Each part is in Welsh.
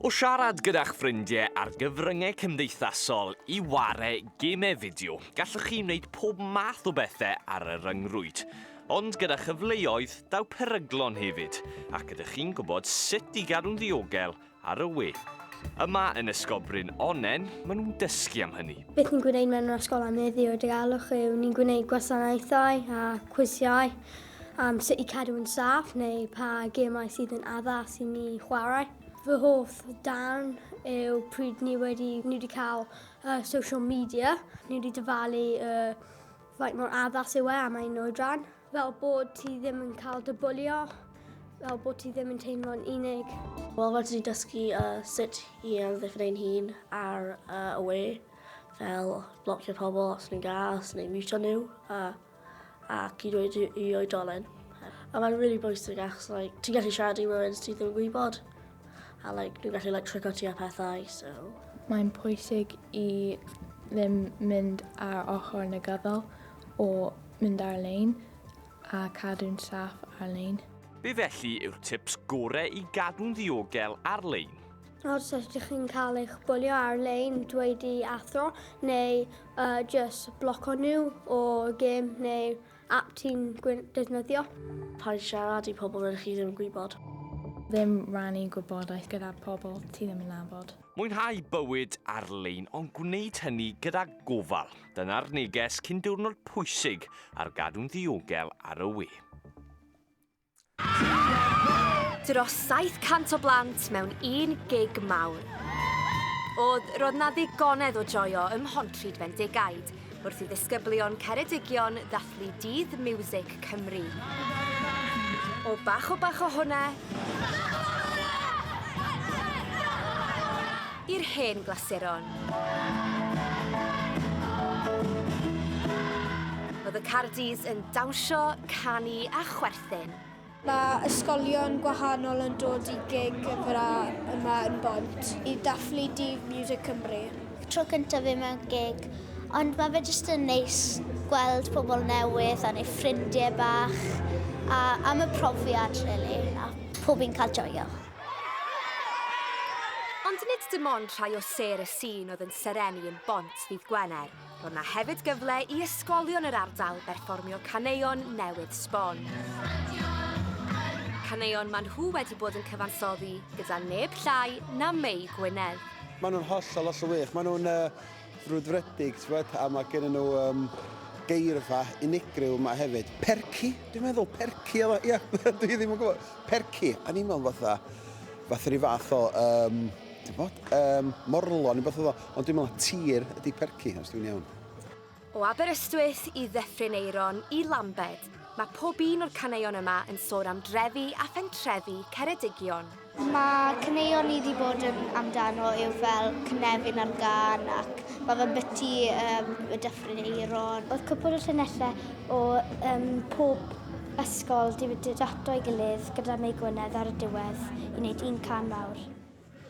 O siarad gyda'ch ffrindiau ar gyfryngau cymdeithasol i ware gemau fideo, gallwch chi wneud pob math o bethau ar y ryngrwyd. Ond gyda chyfleoedd, daw peryglon hefyd, ac ydych chi'n gwybod sut i gadw'n ddiogel ar y we. Yma yn Ysgolbryn Onnen, maen nhw'n dysgu am hynny. Beth ni'n gwneud mewn yr ysgol am heddiw, y diogelwch yw, ni'n gwneud gwasanaethau a cwisiau. am sut i cadw yn saff neu pa gemau sydd yn addas i ni chwarae. Fy hoff darn yw pryd ni wedi, ni wedi cael uh, social media, ni wedi dyfalu uh, faint mor addas yw e am ein oedran, fel bod ti ddim yn cael dy bwlio, fel bod ti ddim yn teimlo'n unig. Wel, fel ti wedi dysgu uh, sut i amddiffyn ein hun ar uh, y we, fel blocio pobl os ni'n gas neu mutio nhw, uh, ac i ddweud i oedolyn. A mae'n really bwysig achos like, ti'n gallu siarad i rywun sydd ddim yn gwybod a like, nhw'n gallu like, trico ti a pethau. So. Mae'n pwysig i ddim mynd ar ochr negyddol o mynd ar-lein a cadw'n saff ar-lein. Be felly yw'r tips gorau i gadw'n ddiogel ar-lein? Os ydych chi'n cael eich bwlio ar-lein, dweud i athro neu uh, just bloco nhw o gêm neu app ti'n defnyddio. Paid siarad i pobl rydych chi ddim yn gwybod. Ddim rannu gwybodaeth gyda pobl ti ddim yn nabod. Mwynhau bywyd ar-lein ond gwneud hynny gyda gofal. Dyna'r neges cyn diwrnod pwysig ar gadw'n ddiogel ar y we. Dros 700 o blant mewn un gig mawr. Oedd, roedd na ddigonedd o joio ym Mhontrhyd Fendigaid wrth i ddisgyblion Ceredigion ddathlu Dydd Miwsig Cymru. O bach o bach o hwnna, i'r hen glasuron. Oedd y Cardis yn dawnsio, canu a chwerthin. Mae ysgolion gwahanol yn dod i gig y Fara yma yn Bont i dathlu Dydd Music Cymru. Tro cyntaf fi mewn gig, ond mae fe jyst yn neis gweld pobl newydd a wneud ffrindiau bach a am y profiad rili a pob un cael joio. Ond nid dim ond rhai o sêr y Sîn oedd yn serennu yn Bont ddydd Gwener, roedd 'na hefyd gyfle i ysgolion yr ardal berfformio caneuon newydd sbon. Caneuon maen nhw wedi bod yn cyfansoddi gyda neb llai na Mei Gwynedd. Maen nhw'n hollol, hollol wych. Maen nhw'n yy frwdfrydig t'mod a ma' gennyn nhw yym geirfa unigryw yma hefyd. Percy dwi'n meddwl percy oedd o ia dwi ddim yn gwybod. Percy o'n i'n meddwl fatha fatha rhyw fath o yym t'mod yym morlo neu beth oedd o ond dwi'n meddwl tir ydi percy os dwi'n iawn. O Aberystwyth i Ddyffryn Aeron i Lambed, mae pob un o'r caneuon yma yn sôn am drefi a phentrefi Ceredigion. Mae caneuon ni 'di bod yn amdano yw fel cynefin ar gân ac mae fe'n biti um, y Dyffryn Eiron. Oedd cwpl o llinellau o um, pob ysgol di mynd ato'i gilydd gyda Mei Gwynedd ar y diwedd i wneud un can mawr.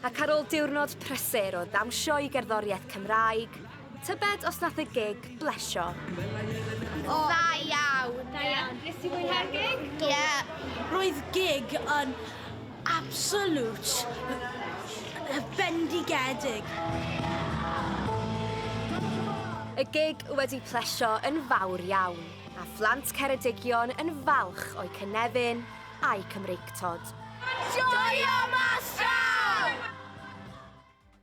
Ac ar ôl diwrnod prysur o ddawnsio i gerddoriaeth Cymraeg, Tybed os nath y gig blesio? O, dda iawn. Da iawn. Nes ti mwynhau'r gig? Ie. Roedd gig yn absolute bendigedig. Y gig wedi plesio yn fawr iawn, a phlant Ceredigion yn falch o'u cynefin a'u Cymreictod. Joio Mas Draw!